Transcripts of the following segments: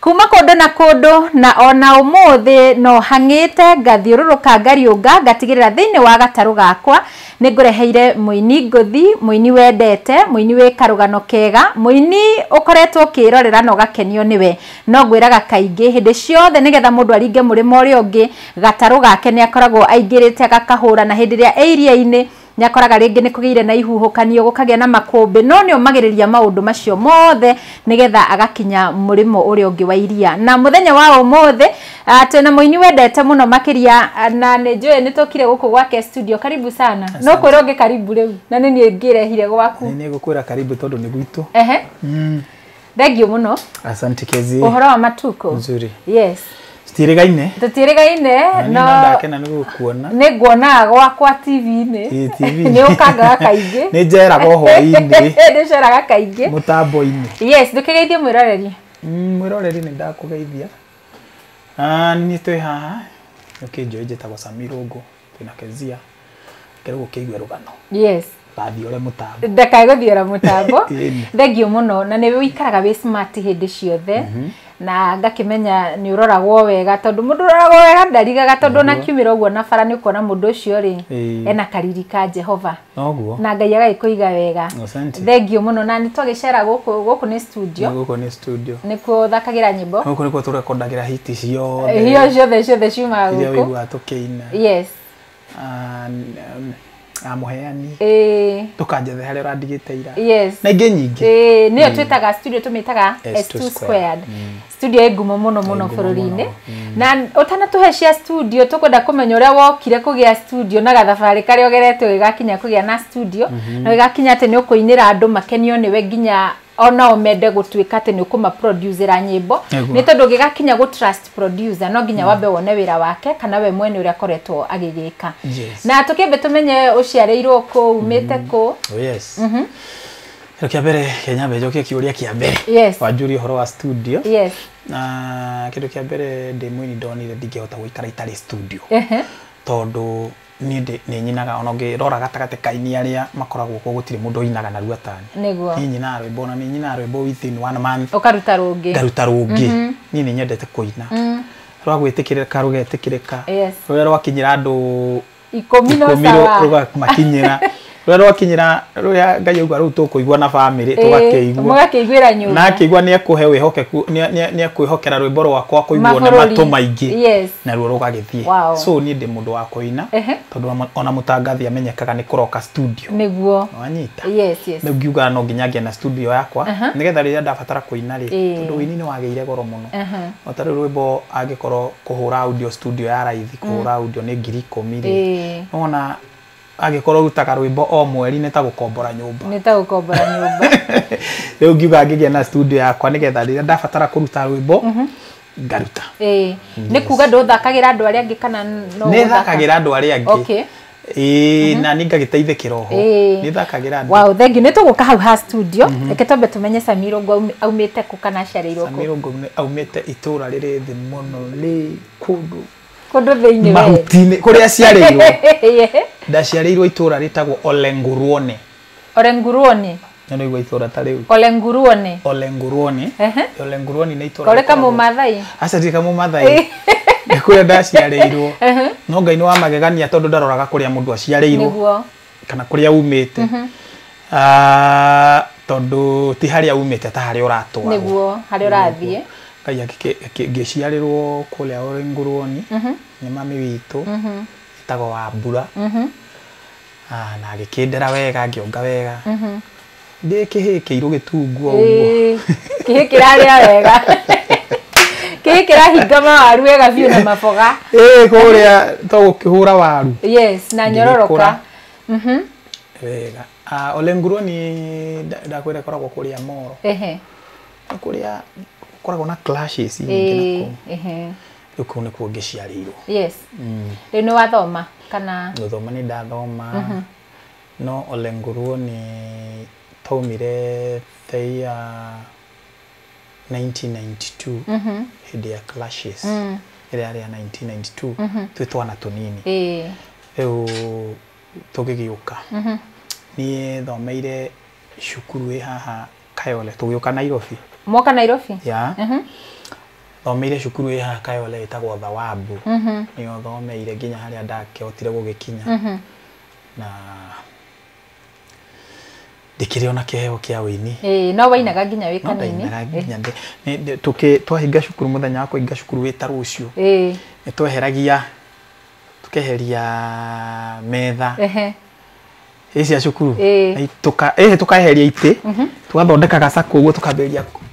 Kuuma kũndũ na kũndũ, na o na ũmũthĩ no hang'ĩte, ngathiũrũrũka ngariũnga, ngatigĩrĩra thĩinĩ wa gatarũ gakwa nĩ ngũreheire mũini ngũthi, mũini wendete, mũini wĩ karũgano kega, mũini ũkoretwo ũkĩĩrorera na ũgakenio nĩwe. No ngwĩraga kaingĩ, hĩndĩ ciothe nĩgetha mũndũ aringe mũrĩmo ũrĩa ũngĩ, gatarũ gake nĩ akoragwo aingĩrĩte agakahũra, na hĩndĩ ĩrĩa e iria-inĩ, Nĩ akoraga rĩngĩ nĩ kũgĩire na ihuhũkanio, gũkagĩa na makũmbĩ, no nĩ omagĩrĩria maũndũ macio mothe nĩgetha agakinya mũrĩmo ũrĩa ũngĩ wa iria. Na mũthenya wa ũmũthĩ twĩna mũini wendete mũno makĩria na nĩ njũĩ nĩ tũkire gũkũ gwake studio. Karibu sana. Nũ kwĩra ũngĩ karibu rĩu? Na nĩ niĩ ngĩrehire gwaku. Nĩ ngũkwĩra karibu tondũ nĩ gwitũ. Ehe. thengio må no asante kezi å horo wa matuko nzuri yes citiĩrĩgaine tå tiä rä gaine no no ndakena nĩ gũkuona nä nguonaga gwakwa tv-inĩ Ĩ, TV. nä å kangaga kaingä nĩ njeraga hwainĩ nä ceraga kaingä mũtambo-inĩ yes ndå kä geithie mwä roreri Mm, mwĩroreri nĩ ndakũgeithia Ah, nĩ niĩ twĩ haha nĩkĩnjũĩ njĩtagwo sami rũngũ twĩna kezia kerwo gũkĩigue rũgano yes gathiore mũtambo ndakae gũthiora mũtambo Ĩni. thengio mũno na nĩ wĩikaraga wĩ smart hĩndĩ ciothe na ngakĩmenya nĩ ũroragwo wega tondũ mũndũ ũroragwo wega ndarigaga tondũ ona kiumĩra ũguo na bara nĩ ũkuona mũndũ ũcio rĩ Ĩĩ. ena kariri ka jehova Noguo. na ngai agagĩkũiga wega Asante. thengio mũno na nĩ twagĩcera gũkũ gũkũ nĩ studio Gũkũ nĩ studio. nĩkuo thakagĩra nyĩmbo Gũkũ nĩkuo tũrekondagĩra hiti ciothe. hio ciothe ciothe ciumaga Iria gũkũ ũiguaga tũkĩina. yes Ah, n- n- ah, mũheani. ĩĩ Ndũkanjethe harĩa ũrandigĩte ira. yes Na ingĩ nyingĩ. ĩĩ nĩyo twĩtaga studio tũmĩtaga S2 S2 squared squared. studio ĩ ngumo mũno mũno bũrũri-inĩ mm. na ũtanatũhe cia studio tũkwenda kũmenya ũrĩa wokire kũgĩa studio na gathabarĩ karĩa ũgerete ũgĩgakinya kũgĩa na studio mhm. na ũgĩgakinya atĩ nĩ ũkũinĩra andũ makenio nĩwe nginya onao mende gũtuĩka atĩ nĩ ũkũmaproducera nyĩmbo nĩ tondũ ũngĩgakinya gũ trust producer no nginya mm. wambe wone wĩra wake kana we mwene ũrĩa akoretwo agĩgĩka na tũkĩmbe tũmenye ũciarĩirwo kũ umĩte mm. kũ oh, mhm. Kĩndũ kĩa mbere kĩa nyambe njokie kĩũria kĩa mbere Yes. wanjũrie ũhoro wa studio yes na kĩndũ kĩa mbere ndĩ mwini ndonire ndingĩhota gũikara itarĩ studio Ehe. tondũ niĩ ndĩ- nĩ nyinaga ona ũngĩrora gatagatĩ kaini arĩa makoragwo kuo gũtirĩ mũndũ ũinaga narua tani Nĩguo. niĩ nyinaga rwĩmbo na nĩ nyinaga rwĩmbo within one month ũkaruta rũngĩ ngaruta rũngĩ niĩ nĩ nyendete kũina rwa gwĩtĩkĩrĩka rũgetĩkĩrĩka Yes. rũrĩa rwakinyĩra andũ ikũmi no ikũmi rũ- sawa rũgamakinyĩra rũrĩa rwakinyĩra rũrĩa ngai auga rũu tũkũigua na bamĩrĩ tũgakĩigua mũgakĩiguĩra na nyũmba akĩigua nĩ ekũhe wĩhokeku nĩ- nĩ- nĩ ekwĩhokera rwĩmbo rwakwa kũiguo nĩ Mabũrũri. matũ maingĩ Yes. naruo rũgagĩthiĩ Wow. so niĩ ndĩ mũndũ wa kũina Ehe. tondũ ona- ona mũtangathi amenyekaga nĩ kũroka studio nĩguo wanyita yes yes rĩu ngiugaga no nginya ngĩe na studio yakwa Aha. nĩgetha rĩrĩa ndabatara kũina rĩ Ĩĩ. tondũ ũini nĩ wagĩire goro mũno Aha. o ta rĩu rwĩmbo angĩkorwo kũhũra audio studio ya raithi kũhũra audio nĩ ngiri ikũmi rĩ, nĩwona angĩkorwo ũrutaga rwĩmbo o mweri nĩ ta gũkombora nyũmba. Nĩ ta gũkombora nyũmba. Rĩu ngiuga ngĩgĩa na studio yakwa nĩgetha rĩrĩa ndabatara kũruta rwĩmbo ngaruta. Nĩ kuga ndũthakagĩra andũ arĩa angĩ kana no gũthaka? Nĩthakagĩra andũ arĩa angĩ. Okay. Ĩĩ, na nĩ ngagĩteithĩkĩra oho Ĩĩ. nĩ thakagĩra andũ wow thengi nä tå gå ka hau ha studio reke twambe tå menye samiro ngo aumä te kå kana aciarĩirwo kå Samiro ngo aumĩte itũra rĩrĩ thĩ mũno rĩ kũndũ kå ndå thä inä mahuti-inĩ kũrĩa aciarĩirwo ndaciarĩirwo itũra rĩtagwo Olenguruone Ole nguruoni. Nĩ ũraigua itũũra ta rĩu? Ole nguruoni. Ole nguruoni. Ehe. Ole nguruoni nĩ itũũra. Kore kama Maathai? Aca ti kama Maathai. Nĩ kũrĩa ndaciarĩirwo. Ehe. No Ngai nĩ wa magegania tondũ ndaroraga kũrĩa mũndũ aciarĩirwo. Nĩguo. Kana kũrĩa uumĩte. Mhm. Ah, tondũ ti harĩa uumĩte ta harĩa ũratwarwo. Nĩguo, harĩa ũrathiĩ. Ngai akĩ, ngĩciarĩrwo kũrĩa Ole nguruoni. Mhm. Nĩ mami witũ. Mhm. Etagwo Wambura. Mhm. Haa na agĩkĩndera wega ngĩonga wega ndĩ kĩhĩĩ kĩirũ gĩtungu o ũguo Ĩĩ, kĩhĩ kĩrarĩa wega kĩhĩ kĩrahinga mawaru wega biũ na maboga ĩĩ kũrĩa to gũkĩhũra waru yes na nyororoka Ngĩgĩkũra. wega Ah, ole nguruo ni nda- ndakwĩra ĩkoragwo kũrĩa moro ehe kũrĩa gũkoragwo na clashes nyingĩ na ĩĩ kũu ehe rĩu kau nĩkuo ngĩciarĩirwo yes rĩu nĩ wathoma kana gũthoma nĩ ndathoma no ole nguruo nĩ twaumire the ya 1992 hĩndĩ ya clashes ĩrĩa yarĩ ya 1992 twĩ twana tũnini ĩĩ rĩu tũgĩgĩũka niĩ thomeire cukuru ĩ haha Kayole tũgĩũka Nairobi. Mwoka Nairobi? Yeah. Mm -hmm. Thomeire cukuru ĩ haha Kayole ĩtagwo Thawabu. Mm -hmm. Nĩyo thomeire nginya harĩa ndakĩhotire gũgĩkinya. Mm -hmm. Na ndikiri ona kiheo kia wini eh no wainaga nginya wi kanini eh. tuke twahinga cukuru muthenya wa kuhinga cukuru wita rucio eh ni tweheragia tukeheria metha ehe ĩ cia cukuru Ĩĩ. Ai, tũka- ĩhĩ tũkaeheria itĩ tũgathondeka gacakũ ũguo tũkambĩrĩria kũ-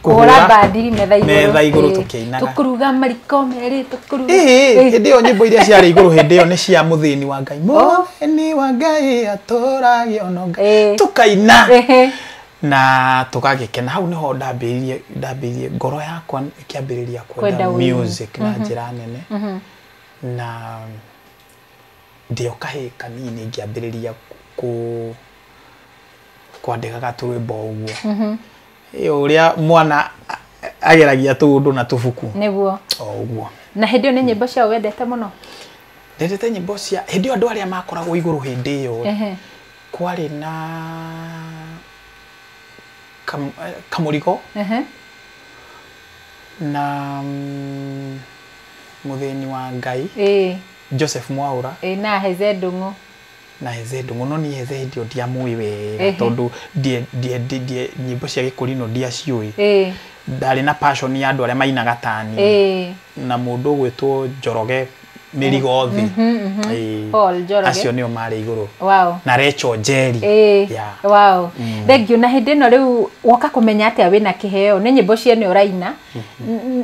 kũhũra bandiri metha igũrũ metha igũrũ Ĩĩ. tũkĩinaga. tũkuruga mariko merĩ tũkuruga Ĩhĩ, Ĩĩ. hĩndĩ ĩyo nyĩmbo iria ciarĩ igũrũ hĩndĩ ĩyo nĩ cia mũthĩni wa ngai mũthĩni wa ngai atũrage ono ngai Ĩĩ. tũkaina Ĩhĩ. na tũgagĩkena hau nĩho ndambĩrĩirie ndambĩrĩirie ngoro yakwa ĩkĩambĩrĩria Kwenda kwenda ũini. music na njĩra nene na Ndĩ o kahĩĩ kanini ngĩambĩrĩria kwandĩkaga tũrwĩmbo o ũguo. Mhm. Ĩ o ũrĩa mwana ageragia tũũndũ na tũbuku. Nĩguo. O ũguo. Na hĩndĩ ĩyo nĩ nyĩmbo ciao wendete mũno? Ndendete nyĩmbo cia, hĩndĩ ĩyo andũ arĩa makoragwo igũrũ hĩndĩ ĩyo rĩ, kwarĩ na Kamũrigo na mm, mũthĩni wa Ngai, Ĩĩ, Joseph Mwaũra ĩĩ na Heze Ndũng'ũ. na Heze Ndũng'ũ. No niĩ Heze hĩndĩ ĩyo ndiamũĩ wega Ehe. tondũ ndie- ndie- ndie- ndie- nyĩmbo cia gĩkũrinũ ndiaciũĩ. Ĩĩ, Ndarĩ na passion ya andũ arĩa mainaga ta niĩ ĩĩ. na mũndũ ũgwĩtwo Njoroge mĩrigo thĩ. Ĩĩ. Paul Njoroge. Acio nĩo marĩ igũrũ. Wow. Na Recho Njeri. Ĩĩ, Yeah. wow. Thengiũ na hĩndĩ ĩno rĩu woka kũmenya atĩa wĩna kĩheo nĩ nyĩmbo ciene ũraina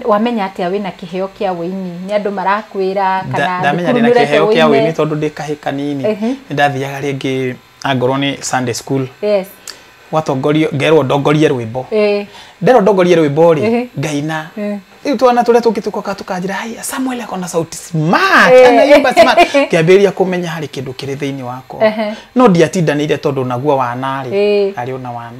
wamenya atĩa wĩna kĩheo kĩa wĩini nĩ andũ marakwĩra kana ndamenya ndĩna kĩheo kĩa wĩini tondũ ndĩ kahĩ kanini nĩ ndathiaga rĩngĩ angorwo nĩ Sunday school yes watongorio ngerwo ndongorie rwĩmbo nderwo ndongorie rwĩmbo rĩ ngaina rĩu twana tũrĩa tũngĩ tũkoka tũkanjĩra hai Samuel ako na sauti smart anaimba smart ngĩambĩrĩria kũmenya harĩ kĩndũ kĩrĩ thĩinĩ wakwa no ndiatindanĩire tondũ naguo wanarĩ arĩ ona wana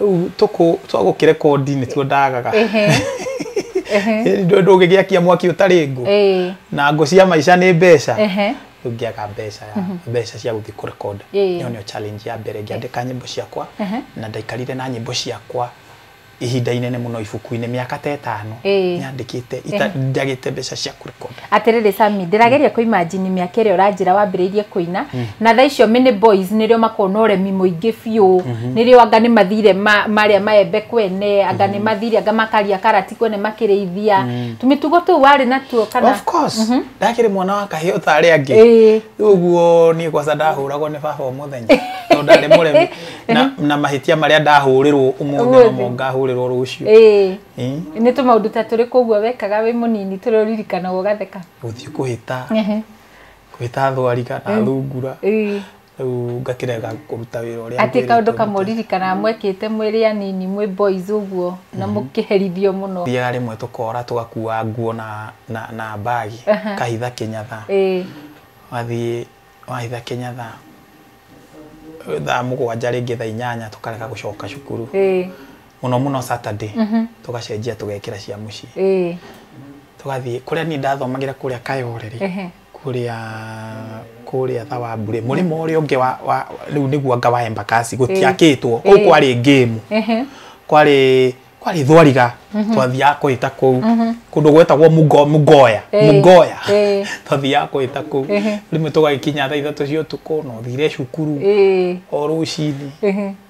Rĩu tũkũ twa gũkĩrekondi nĩtuo ndagaga. Ndũngĩgĩakia mwaki ũtarĩ ngũ na ngũ cia maica nĩ mbeca ndũngĩaga mbeca ya mhm. mbeca cia gũthiĩ kũrekonda ĩyo nĩyo challenge ya mbere ngĩandĩka nyĩmbo ciakwa na ndaikarire na nyĩmbo ciakwa ihinda inene muno ibuku-inĩ mĩaka ta ĩtano nyandĩkĩte njagĩte mbeca cia kũrekonda Atĩrĩrĩ Sami, ndĩrageria kũ imagine mĩaka ĩrĩa ũranjĩra wambĩrĩirie kũina, na thaa icio mini boys nĩrĩo makoragwo na ũremi mũingĩ biũ, nĩrĩo anga nĩ mathire ma marĩa maembe kwene, anga nĩ mathire anga makaria karati kwene makĩrĩithia, tũmĩtugo tũu warĩ natuo kana? Of course, ndakĩrĩ mwana wa kahĩĩ o ta arĩa angĩ. Ĩĩ. Rĩu ũguo niĩ kwanza ndahũragwo nĩ baba o mũthenya, tondũ ndarĩ mũremi, na na mahĩtia marĩa ndahũrĩrwo ũmũthĩ no mo ngahũrĩrwo rũciũ. Ĩĩ. Eh, nä tå maå ndå ta tå rä kå guo wekaga wä må nini tå rä å ririkanaga å gatheka gũthiĩ kũhĩta Ehe. kũhĩta thwariga na thungura Ĩĩ. rĩu ngakĩrega kũruta wĩra ũrĩa atä kaå ndå ngwĩrĩtwo kamwe ndute. ririkanaga mwekä te mwä rä anini mwä boys å guo na må kä herithio må no thiaga rĩmwe tũkora tũgakua nguo na, na, na mbagi Aha. kahitha kĩnyatha Ĩĩ. wathiĩ wahitha kĩnyatha thaa mũgwanja rĩngĩ thaa inyanya tũkarega gũcoka cukuru Ĩĩ. muno muno saturday mhm. tugacenjia tugekira cia mucii eh. tugathie kuria ni ndathomagira kuria kayoreri kuria kuria tha wa mbure murima uria ungi wa, wa riu niguo anga wa embakasi gutiakitwo kuu kwari ngemu kwari kwari thwariga mhm. twathiaga kuhita kuu mhm. kundu gwetagwo mugoya mugoya twathiaga kuhita kuu rimwe tugagikinya tha ithatu cia utuku no thire cukuru o rucini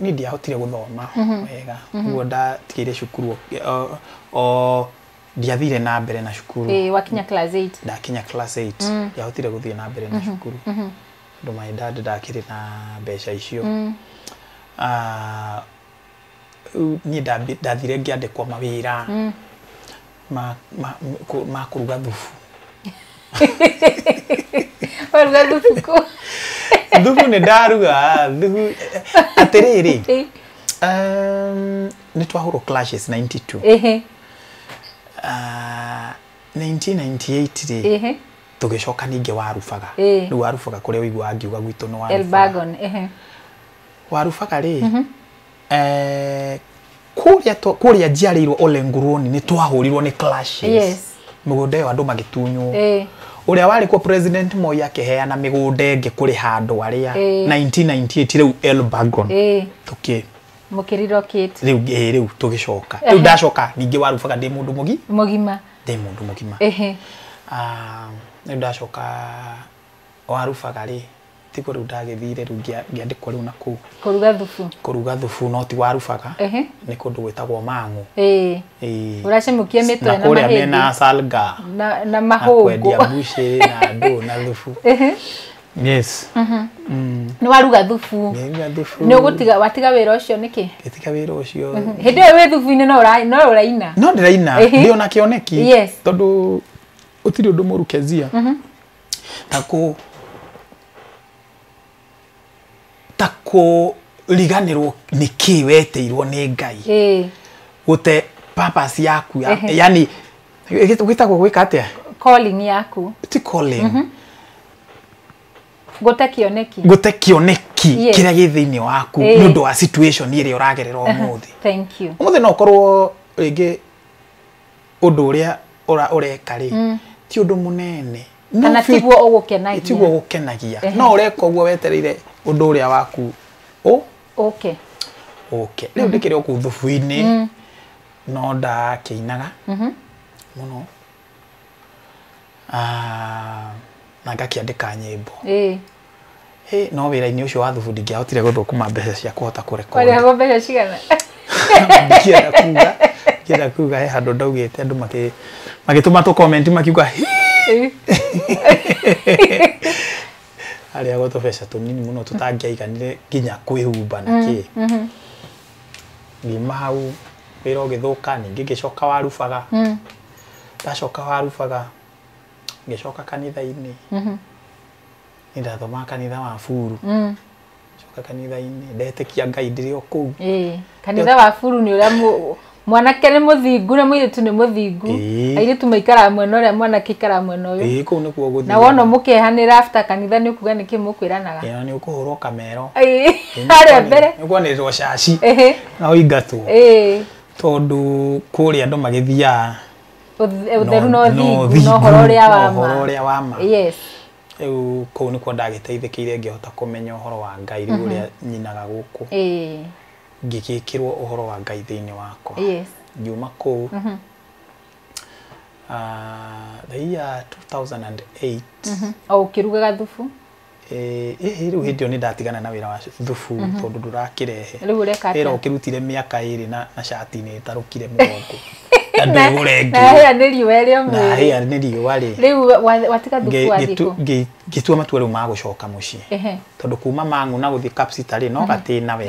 niä ndiahotire gå thoma wega guo ndatigä cukuru o- o ndiathire na mbere na cukuru Ĩĩ, wakinya class 8 ndakinya class 8 ndiahotire gå thiä na mbere na cukuru tondå my dad ndakä rä na mbeca icio Ah, Rĩu niĩ ndambi- ndathire ngĩandĩkwo mawĩra ma- ma- kũ- ma kũruga thubu waruga thubu kũ thubu nĩ ndaruga thubu atĩrĩrĩ Ĩ, um, nĩ twahũrwo clashes 92 ĩhĩ, Ah, 1998 rĩ ĩhĩ, tũgĩcoka ningĩ warubaga Ĩ. rĩu warubaga kũrĩa ũiguaga ngiuga gwitũ nĩ warubaga elbagon ĩhĩ, warubaga rĩ mm -hmm. eh, kuria to kuria njiarĩirwo ole nguruoni nĩ twahurirwo nĩ clashes Yes. mĩgũnda ĩyo andũ magĩtunywo Eh. ũrĩa warĩ kuo president moi akĩheana mĩgũnda ĩngĩ kũrĩ handũ arĩa Eh. 1998 rĩu elbagon Eh. tũkĩ mũkĩrirokĩte rĩu eh, rĩu tũgĩcoka rĩu ndacoka ningĩ warubaga ndĩ mũndũ mũgi mũgima ndĩ mũndũ mũgima ehe Ah, rĩu ndacoka warubaga rĩ tiguo rĩu ndagĩthire rĩu ngĩandĩkwo rĩu na kũu kũruga thubu kũruga thubu no ti warubaga nĩ kũndũ gwĩtagwo mang'ũ ũracemũkia mĩtwe na kũrĩa mena salga na mahũngũ kwendia bushĩ na ndũ na thubu yes mhm. mm. nĩ waruga thubu nĩ ũgũtiga watiga wĩra ũcio nĩkĩ ngĩtiga wĩra ũcio mhm. hĩndĩ ĩyo wĩ thubu-inĩ no ũraina no ndĩraina ndĩ ona kĩoneki tondũ ũtirĩ ũndũ mũru kezia mhm. ta kũ ta kũriganĩrwo nĩ kĩ weteirwo nĩ ngai ĩĩ gũte purpose yaku ya, Ehe. yani gwĩtagwo gwĩka atĩa calling yaku ti calling gũte kĩoneki gũte kĩoneki Yes. kĩrĩa gĩ thĩinĩ waku Ĩĩ. nĩ ũndũ wa situation ĩrĩa ũragerera ũmũthĩ thank you ũmũthĩ no ũkorwo rĩngĩ ũndũ ũrĩa ũreka rĩ mm. ti ũndũ mũnene kana tiguo ũgũkenagia tiguo ũgũkenagia no ũreka ũguo wetereire ũndũ ũrĩa waku ũ ũke ũke rĩu mhm. ndĩkĩrĩ oku thubu-inĩ mm. no ndakĩinaga mhm. mũno ah, na ngakĩandĩka nyĩmbo Hey, no wĩra-inĩ ũcio wa thubu ndingĩahotire gũthũkũma mbeca cia kũhota kũrekodi warĩhagwo mbeca cigana ndikienda kuga ndikienda kuga he handũ ndaugĩte andũ makĩ- magĩtũma tũ comment makiuga "Hi!" arĩagwo tũbeca tũnini mũno tũtangĩaiganire nginya kwĩhumba na kĩ ngiuma hau wĩra ũgĩthũka ningĩ ngĩcoka warubaga ndacoka warubaga ngĩcoka kanitha-inĩ nĩ ndathomaga kanitha wa buru coka kanitha-inĩ ndetĩkia ngai ndĩrĩ o kũu Ĩĩ, kanitha wa buru nĩ ũrĩa mũ- mwanake nĩ mũthingu na mũirĩtu nĩ mũthingu Ĩĩ. airĩtu maikaraga mwena ũrĩa mwanake aikaraga mwena ũyũ ĩĩ kũu nĩkuo gũthiĩ na wona mũkehanĩra after kanitha nĩ ukuga nĩkĩ mũkwĩranaga ĩĩ, na nĩ ũkũhũrwo kamero Ĩĩ, harĩa mbere nĩ kwanĩrĩrwo caci Ĩhĩ, na ũingatwo ĩĩ, tondũ kũrĩa andũ magĩthiaga Ũth- ũtheru no thingu thingu, no ũhoro ũrĩa wa no ũhoro ma ũrĩa wa ma yes rĩu kũu nĩkuo ndagĩteithĩkĩire ngĩhota kũmenya ũhoro wa ngai rĩu ũrĩa nyinaga gũkũ ĩĩ ngĩgĩkĩrwo ũhoro wa ngai thĩinĩ wakwa yes ngiuma kũu ah, the year 2008 o ũkĩrugaga thubu ĩhĩ rĩu hĩndĩ ĩyo nĩ ndatigana na wĩra wa thubu mhm. tondũ ndũrakĩrehe wĩra ũkĩrutire mĩaka ĩrĩ na cati nĩ ĩtarũkire mũgongo ngĩtua matua rĩu ma gũcoka mũciĩ tondũ kuma mang'u na gũthiĩ kapsitarĩ no gatĩna we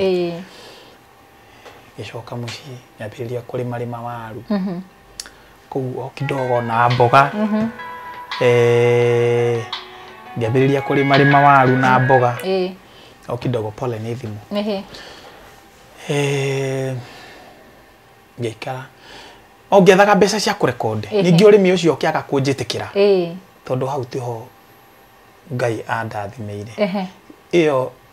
ngĩcoka mũciĩ nyambĩrĩria kũrĩma rĩma waru kũu o kidogo na mboga eh, ngĩambĩrĩria kũrĩma rĩma waru na mboga Eh, o kidogo pole nĩ thimũ ehe. Eh, ngĩikara o ngĩethaga mbeca cia kũrekonde Ehe. ningĩ ũrĩmi ũcio ũkĩaga kũnjĩtĩkĩra Eh, tondũ hau tiho ngai andathimĩire ehe. ĩyo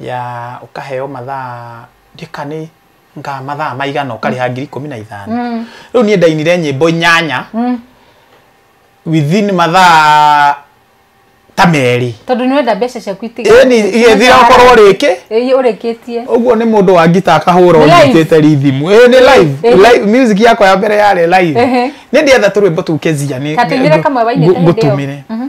ya ũkaheo mathaa ndika nĩ nga mathaa maigana ũkarĩha ngiri ikũmi na ithano Mm. rĩu niĩ ndainire nyĩmbo inyanya Mm. within mathaa ta merĩ tondå nä wenda mbeca ciaku ĩni igethira okorwo rĩkĩ ä å rä kä tie ũguo nĩ mũndũ wa ngita akahũra Nĩ live. ũnyitĩte rithimu ĩ nĩ live Eh, eh. live music yakwa ya mbere yarĩ live Ehe. nĩ ndĩetha tũrwĩmbo tũu kezia nĩ Katũinĩre kamwe wainĩte hĩndĩ ĩyo. ngũtũmĩre Mhm.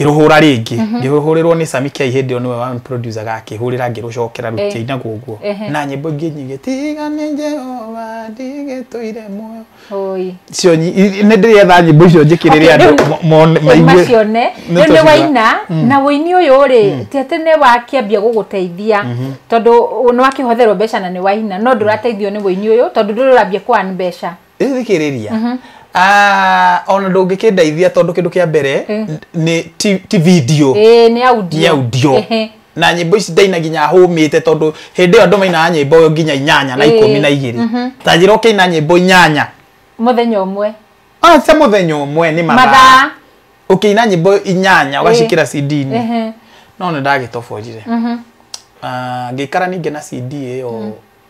ngĩrũhũra rĩngĩ mhm. ngĩhũrĩrwo nĩ Sami Kiai hĩndĩ ĩyo nĩwe wa producer ga akĩhũrĩra ngĩrũcokera rũti eh. na guguo na nyĩmbo ingĩ nyingĩ tiga nĩ Jehova ndigĩtũire muoyo cio nĩ ndĩretha nyĩmbo icio njĩkĩrĩre andũ macione rĩu nĩ waina mm. na ũini ũyũ rĩ mm. ti atĩ nĩ wakĩambia gũgũteithia mhm. tondũ nĩ wakĩhotherwo mbeca na nĩ waina no ndũrateithio nĩ ũini ũyũ tondũ ndũrĩ ũrambia kũan mbeca Rĩu thikĩrĩria Mhm. Ah, ona ndũngĩkĩndeithia tondũ kĩndũ kĩa mbere Eh. nĩ ti ti video Ĩĩ, nĩ audio. nĩ audio Ehe. na nyĩmbo ici ndaina nginya hũmĩte tondũ hĩndĩ ĩyo andũ mainaga nyĩmbo nginya inyanya na Eh. ikũmi na igĩrĩ Mhm. ta njĩra ũkĩina nyĩmbo inyanya Mũthenya ũmwe. Ah, cia mũthenya ũmwe nĩ mathaa Mathaa. ũkĩina nyĩmbo inyanya ũgacikĩra CD-inĩ Ehe. no nĩ ndagĩtoborire Mhm. Ah, ngĩikara ningĩ na CD ĩyo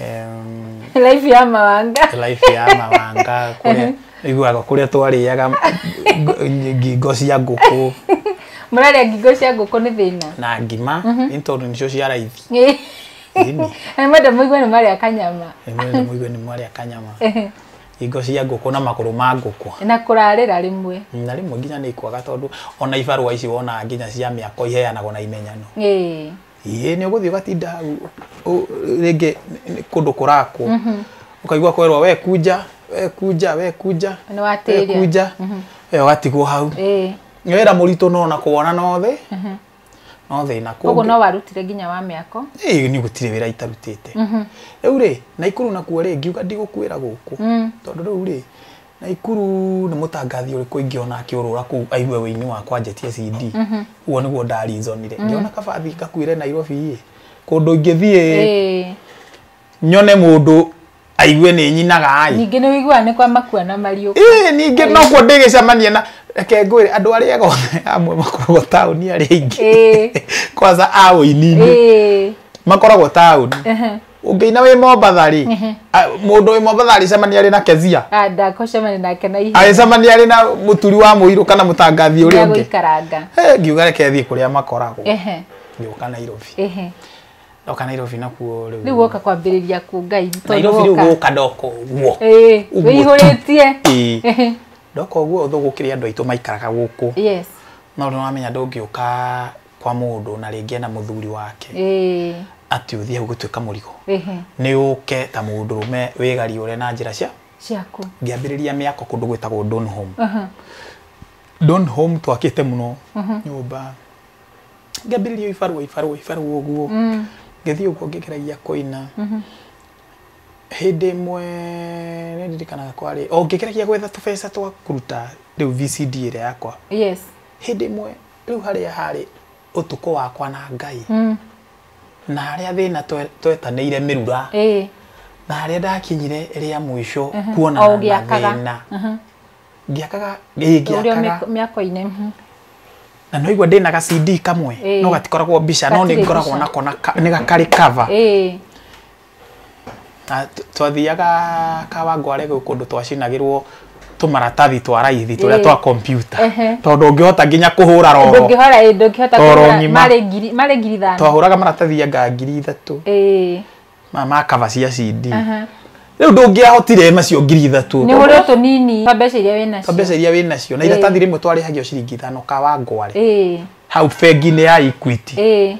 Em, live ya mawanga life ya mawanga kũrĩa iguaga kũrĩa twarĩaga ng- ngingo cia ngũkũ mũrarĩa ngingo cia ngũkũ nĩ thĩna na ngima nĩ tondũ nĩcio cia raithi Ĩni, na mwenda mũigua nĩ marĩa kanyama nĩmwĩrĩ mũigue nĩ mwarĩa kanyama ngingo cia ngũkũ na magũrũ ma ngũkũ na kũrarĩra rĩmwe na rĩmwe nginya nĩ ikwaga tondũ ona ibarũa ici wonaga nginya cia mĩako iheanagwo na imenyano Ĩĩ. ĩĩ nĩ ũgũthiĩ ũgatinda hau ũ- rĩngĩ nĩ- nĩ kũndũ kũrakwo ũkaigua kwerwo we kunja we kunja we kunja Nĩ watĩria. we kunja we ũgatigwo hau ĩĩ nĩ wĩra mũritũ no na kuona no thĩ no thĩna koguo kũngĩ no warutire nginya wa mĩako Ĩĩ, nĩ gũtirĩ wĩra itarutĩte rĩu rĩ naikuru nakuo rĩ ngiuga ndigũkwĩra gũkũ tondũ rĩu rĩ Naikuru nĩ mũtangathi ũrĩkũ ingĩona akĩũrũra kũu aigue wĩini wakwa njetie CD ũguo nĩguo ndarizonire ngĩona kabathi gakuĩre Nairobi ĩ kũndũ ingĩthiĩ Ĩĩ. nyone mũndũ aigue nĩ nyinaga ĩ Ningĩ nĩ ũiguaga nĩ kwa makua na mariũka. Ĩĩ, ningĩ nokuo ndĩgĩcemania na reke ngwĩre andũ arĩa ega othe amwe makoragwo taũni arĩa aingĩ Ĩĩ. kwanza a ũininĩ Ĩĩ. makoragwo taũni Ehe. ũngĩina wĩ mombatha rĩ Ehe. a- mũndũ wĩ mombatha arĩcemania arĩ na kezia Ah, ndakũcemania nake na ihenya arĩcemania arĩ na mũturi wa mũirũ kana mũtangathi ũrĩa ũngĩ ndagũikaranga Eh, ngiuga reke thiĩ kũrĩa makoragwo ehe ngĩũka nairobi ehe ndoka nairobi nakuo rĩu rĩu woka kwambĩrĩria ku ngai tondũ nairobi rĩu woka- gũka ndoka ũguo Ĩĩ, Ũguo tu. wĩihũrĩtie Ĩĩ. Ehe. ndoka ũguo ũthũ gũkĩrĩ andũ aitũ maikaraga gũkũ yes no nĩwamenya ndũngĩũka kwa mũndũ na rĩngĩ ena mũthuri wake ĩĩ ati uthie hau gutuika murigo ĩhĩ ni uke ta mundu rume wigariure na njira cia ciaku ngiambiriria miako kundu gwitagwo don home Aha. don home twakite muno nyumba ngiambiriria ibarua ibarua ibarua uguo Mm. ngithii uguo ngigeragia kuina hindi imwe ni ndirikanaga kwari o ngigeragia gwetha tubeca twa kuruta riu vcd iria yakwa yes hindi imwe Rĩu harĩa harĩ ũtukũ wakwa na Ngai na harĩa thĩna twe- twetanĩire mĩrura ĩĩ na harĩa ndakinyire rĩa mũico o kuonana na ũgĩakaga. thĩna ngĩakaga ĩĩ, ũrĩa ngĩakaga mĩako- mĩako-inĩ mhm. na noigua ndĩ na gacindi kamwe Ĩĩ. no gatikoragwo mbica no Gatirĩ nĩ ngoragwo mbica. nako na ka- nĩ ga- karĩ cover ĩĩ Twathiaga Kawangware gwĩ kũndũ twacinagĩrwo tũmaratathi twa raithi tũrĩa twa kompiuta tondũ ũngĩhota nginya kũhũra roro ndũngĩhora ĩ ndũngĩhota kũhũra marĩ ngiri marĩ ngiri ithano twahũraga maratathi anga ngiri ithatũ ma ma kaba cia CD rĩu ndũngĩahotire nacio ngiri ithatũ nĩ ũrĩ tũnini twa mbeca iria wĩ nacio twa mbeca iria wĩ nacio na iratathi rĩmwe twarĩhagio ciringi ithano Kawangware hau bengi-inĩ ya Equity ĩĩ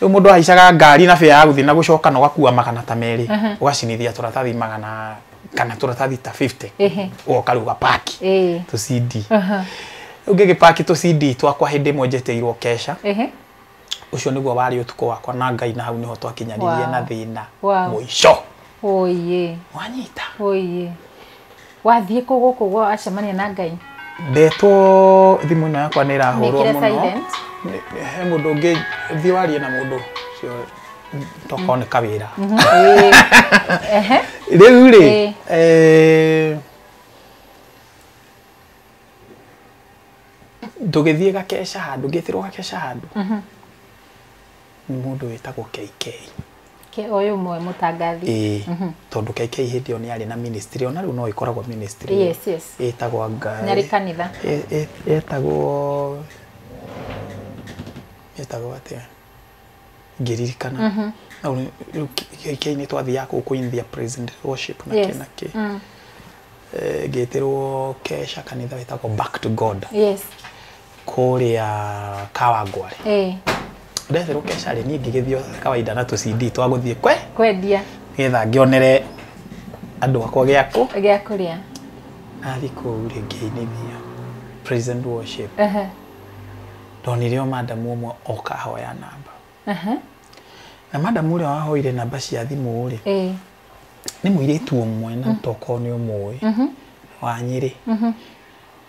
rĩu mũndũ ahaicaga ngari na bĩa ya gũthiĩ na gũcoka na ũgakua magana ta merĩ Aha. ũgacinithia tũratathi magana kana tũratathi ta 50 Ehe. ũgoka rĩu ũgapaki ĩĩ tũ CD Aha. rĩu ngĩgĩpaki tũ CD twakwa hĩndĩ ĩmwe njeteirwo kesha Ehe. ũcio nĩguo warĩ ũtukũ wakwa na Ngai na hau nĩho twakinyanirie Wow. na thĩna Wow. mũico oye wanyita oye wathiĩ kũ gũkũ gwa acemania na ngai ndetwo thimũ ĩno yakwa nĩ ĩrahũrwo Mĩkĩre mũno silent. Nĩ- he mũndũ ũngĩ thiĩ warie na mũndũ ũcio tokorwo nĩ kawĩra Ĩĩ. Ehe. rĩu rĩ Ĩĩ. eh, tũgĩthiĩ gakeca handũ ngĩtirwo gakeca handũ nĩ mũndũ wĩtagwo KK Ke ũyũ ũmwe mũtangathi. Ĩĩ. Tondũ KK hĩndĩ ĩyo nĩ arĩ na ministry, o na rĩu no ĩkoragwo ministry ĩyo. Yes, yes. Ĩtagwo anga. Nĩ arĩ kanitha. Yetagwo, yetagwo atĩa? Ngĩririkana. No rĩu, rĩu KK nĩ twathiaga kũu kũinithia praise and worship na kĩ na kĩ. Ngĩtĩrwo keca kanitha wetagwo Back to God. Yes. kũrĩa kawangware eh ndebe rũkeca rĩ niĩ ngĩgĩthio kawaida na tũcindi twa gũthiĩ kwe kwendia nĩgetha ngĩonere andũ akwa gĩakũ gĩa kũrĩa nathiĩ kũu rĩ ngĩinithia praise and worship aha ndonire o madamu ũmwe oka ahoya namba aha na madamu ũrĩa wahoire namba cia thimũ rĩ eh nĩ mũirĩtu ũmwe na tokorwo nĩ ũmũĩ wa nyĩrĩ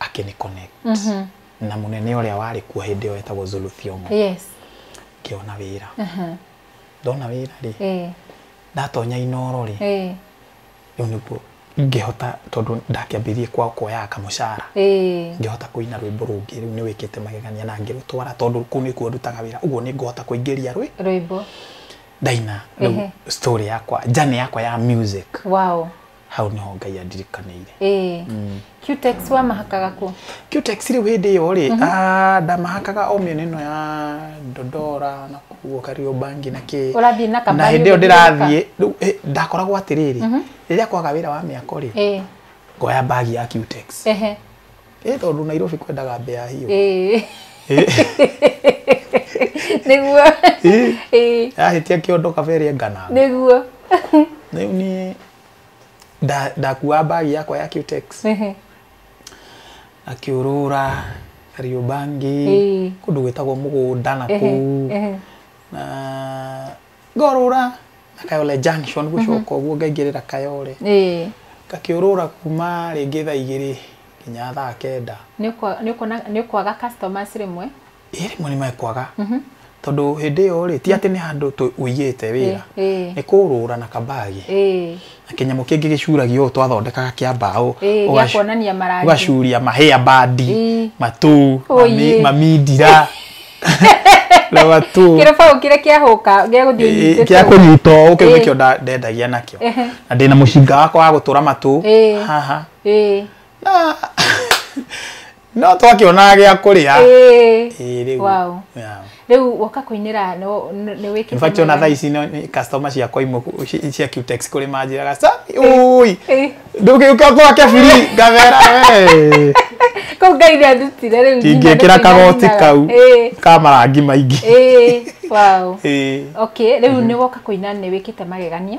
akĩni connect mm -hmm. na munene uria wari kuo hindi yo etagwo Zulu Thiongo yes kiona wira uh -huh. ndona wira ri eh. ndatonya inoro ri eh. riu niguo ngihota tondu ndakiambirie kwa kuoya kamucara eh. ngihota kuina rwimbo rungi riu ni wikite magegania na ngirutwara tondu ku ni kuo ndutaga wira uguo ni ngihota kuingiria rwi rwimbo ndaina story yakwa jane yakwa ya music wow hau niho ngai andirikanĩire Eh. Mm. Cutex wamahakaga kũ? cutex rĩu hĩndĩ ĩyo rĩ Mhm. ah, ndamahakaga o mĩena ĩno ya dodora na kuo kariũmbangi na kĩ Ũrathiĩ na na kambani hĩndĩ ĩyo ũgĩthiũrũrũka? ndĩrathiĩ rĩu eh, ndakoragwo atĩrĩrĩ Mhm. rĩrĩa kwaga wĩra wa mĩako rĩ Eh. ngoya mbagi ya cutex Ehe. ĩ tondũ nairobi kwendaga mbea hiũ Ĩĩ. Ĩ, nĩguo ĩ, Ĩĩ, yahĩtia kĩondo kabere engana nĩguo rĩu niĩ nda- ndakuaga mbagi yakwa ya cutex Ehe. akiurura kariũbangi Ĩĩ. kũndũ gwĩtagwo mũgũnda na Ehe, kũu ehe. na ngorũra na kayole junction gũcoka ũguo ngaingĩrĩra kayole ĩĩ ngakĩũrũra kuma rĩngĩ thaa igĩrĩ nginya thaa kenda nĩ ũko- nĩ ũkona nĩ ũkwaga customers rĩmwe ĩ rĩmwe nĩ mekwaga tondũ hĩndĩ ĩyo rĩ ti atĩ nĩ handũ tũ- ũigĩte wĩra ĩĩ nĩ kũũrũra na kabagi ĩĩ kĩnyamũ kĩngĩ gĩcuragio ũũ twathondekaga kĩa mbaũ Ĩĩ, gĩa ũgacu- kuonania marangi. ũgacuria mahĩa bandi Ĩĩ. matũ Ũyĩ. mami- mamindira na matũ kĩrĩbaũ kĩrĩa kĩahũka gĩa gũthiĩ Ĩĩ, nyitĩte kĩa ũguo. kũnyita ũũ kĩu Ĩĩ. nĩkĩo nda- ndendagia nakĩo Ehe. na ndĩna mũcinga wakwa wa gũtũra matũ Ĩĩ. haha Ĩĩ. na no twakĩonaga gĩa kũrĩa Ĩĩ. Ĩĩ, rĩu. Wow. Yeah. rĩu woka kũinĩra no- n- nĩ wĩkĩte In fact, ona mwega. thaa ici no- nĩ customer ciakwa imwe ku- ci- cia Qtex kũrĩ manjĩraga "Sa, ui Ĩĩ. ndũgĩũka gwake biri ngamera "Wee, kau ngai nĩ andutire rĩu nyina ingĩkĩra nĩ kagoti kũinainaga. kau Ĩĩ. ka marangi maingĩ Ĩĩ. Wow. Ĩĩ. okay rĩu nĩ woka kũina nĩ wĩkĩte magegania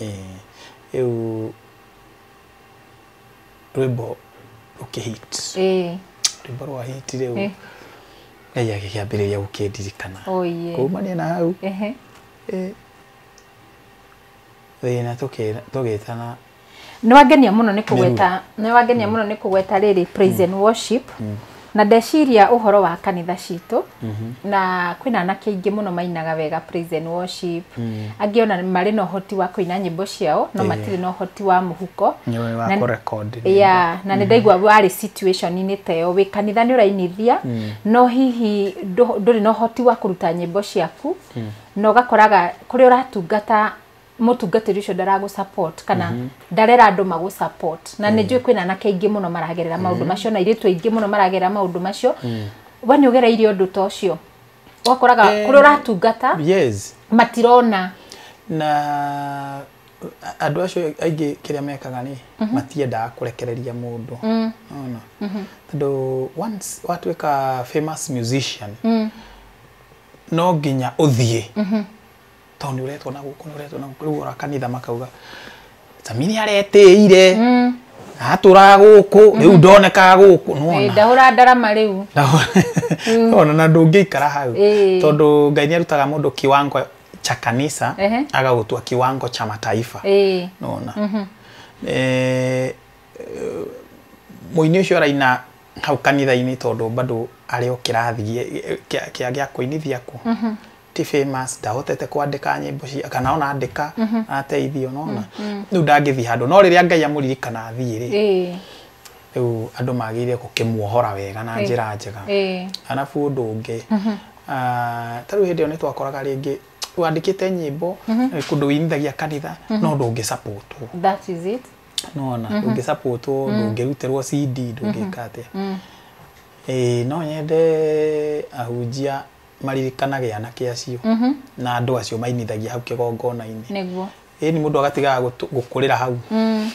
Ĩĩ, rĩu rwĩmbo rũkĩ hit ĩĩ rwĩmbo rwa hit rĩu Eh. ngai agĩkĩambĩrĩria gũkĩndirikana oye kumania na hau ehe eh, thĩna tũkĩra- tũgĩtana nĩwangenia mũno nĩ kũgweta nĩwangenia mũno nĩ kũgweta rĩrĩ praise and worship na ndeciria ũhoro wa kanitha citũ na kwĩna anake aingĩ mũno mainaga wega praise and worship angĩ ona marĩ na ũhoti wa kũina nyĩmbo ciao no matirĩ na ũhoti wa mũhuko Nĩ ũĩ wa Na- kũrekondi nyĩmbo. ya na nä ndaigua warä situationinä ta ä yo wä kanitha nä å rainithia no hihi ndå- ndũrĩ na å hoti wa kå ruta nyä mbo ciaku na å gakoraga kå rä a å ratungata mũtungatĩri ũcio ndaragũ support kana mhm. ndarera andũ magũ support na nĩ njũĩ mm. kwĩna anake aingĩ mũno maragerera maũndũ mm. macio na airĩtu aingĩ mũno maragerera maũndũ macio mm. we nĩ ũgereire ũndũ ta ũcio wakoraga eh, kũrĩa ũratungata matirona na andå acio aingä kä rä a mekaga nä mhm. matiendaga kå rekereria må ndå mhm. tondå watuä ka no nginya å thiä tondũ nĩ ũretwo na gũkũ nĩ ũretwo na gũkũ rĩu ora kanitha makauga Sami nĩ aretĩire Mm. na atũraga gũkũ rĩu ndonekaga gũkũ nĩ Eh, wona ndahũra ndarama rĩu Na- ona na ndũngĩikara hau Eh. tondũ ngai nĩ arutaga mũndũ kiwango cha kanisa Ehe. agagũtua kiwango cha mataifa Eh. nona Eh, mũini ũcio araina hau kanitha-inĩ tondũ bado arĩ o kĩrathi gĩa- kĩa- kĩa gĩa kũinithia kũ ti famous ndahotete kwandĩka nyĩmbo cia kana ona andĩka ateithio nona rĩu ndangĩthiĩ handũ no rĩrĩa ngai amũririkana athiĩ rĩ ĩĩ rĩu andũ magĩrĩire gũkĩmuohora wega na njĩra njega ĩĩ arabu ũndũ ũngĩ ah, ta rĩu hĩndĩ ĩyo nĩ twakoraga rĩngĩ wandĩkĩte nyĩmbo eh, kũndũ wĩinithagia kanitha no ndũngĩ sapotwo that is it nona ndũngĩ sapotwo ndũngĩrutĩrwo cd ndũngĩka atĩa Ĩĩ, no nyende ahunjia maririkanaga anake acio Mhm. na andå acio mainithagia hau kä gongona-inä nĩguo ä ni må ndå agatigaga gå kå rä ra hau Mm.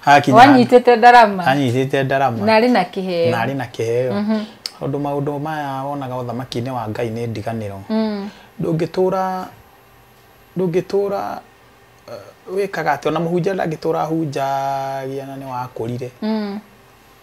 hakinya handũ- wanyitĩte ndarama anyitĩte na ndarama arĩ na kĩheo na arĩ na kĩheo tondũ maũndũ maya wonaga ũthamaki-inĩ wa ngai nĩ ndiganĩro Mm. ndũngĩtũra ndũngĩtũra eh, wĩkaga atĩ ona mũhunjia ndangĩtũra ahunjagia na nĩ wakũrire Mm.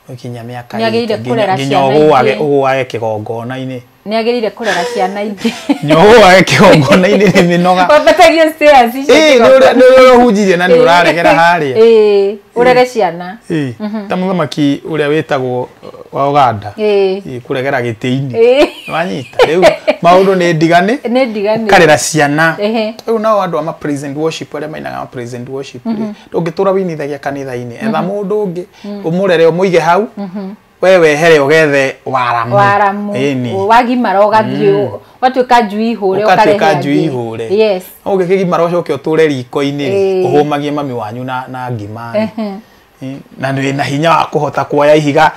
gũkinya mĩaka Nĩ agĩrĩire ĩrĩkũ? kũrera nginya ciana ũgũage ingĩ. ũgũage kĩgongona-inĩ nĩ agĩrĩire kũrera ciana ingĩ nginya ũgũage kĩgongona-inĩ nĩ mĩnoga wambatagie stairs icio Ĩĩ, nĩ ũrĩa- nĩ ũrĩa ũhunjirie na nĩ Ĩĩ. ũraregera harĩa Ĩĩ, ũrere ciana Ĩĩ, ta mũthamaki ũrĩa wĩtagwo uh, wa Uganda Ĩĩ. Ĩĩ, kũregera gĩtĩ-inĩ Ĩĩ. wanyita rĩu maũndũ nĩ ndigane nĩ ndigani karera ciana Ehe. rĩu nao andũ a ma praise and worship arĩa mainaga ma praise and worship rĩ, ndũngĩtũra winithagia kanitha-inĩ etha mũndũ ũngĩ umurere umuige hau we wehere ugethe waramu waramu Ĩni. wagimara ũgathiĩ ũgatuĩka njui ihũre Ũgatuĩka ũkarehe njui angĩ. ihũre. yes ũgĩkĩgimara ũcoke ũtũre riko-inĩ Ĩĩ. ũhũmagie mami wanyu na, na ngima Ĩ, na nĩ na hinya wa kũhota kuoya ihiga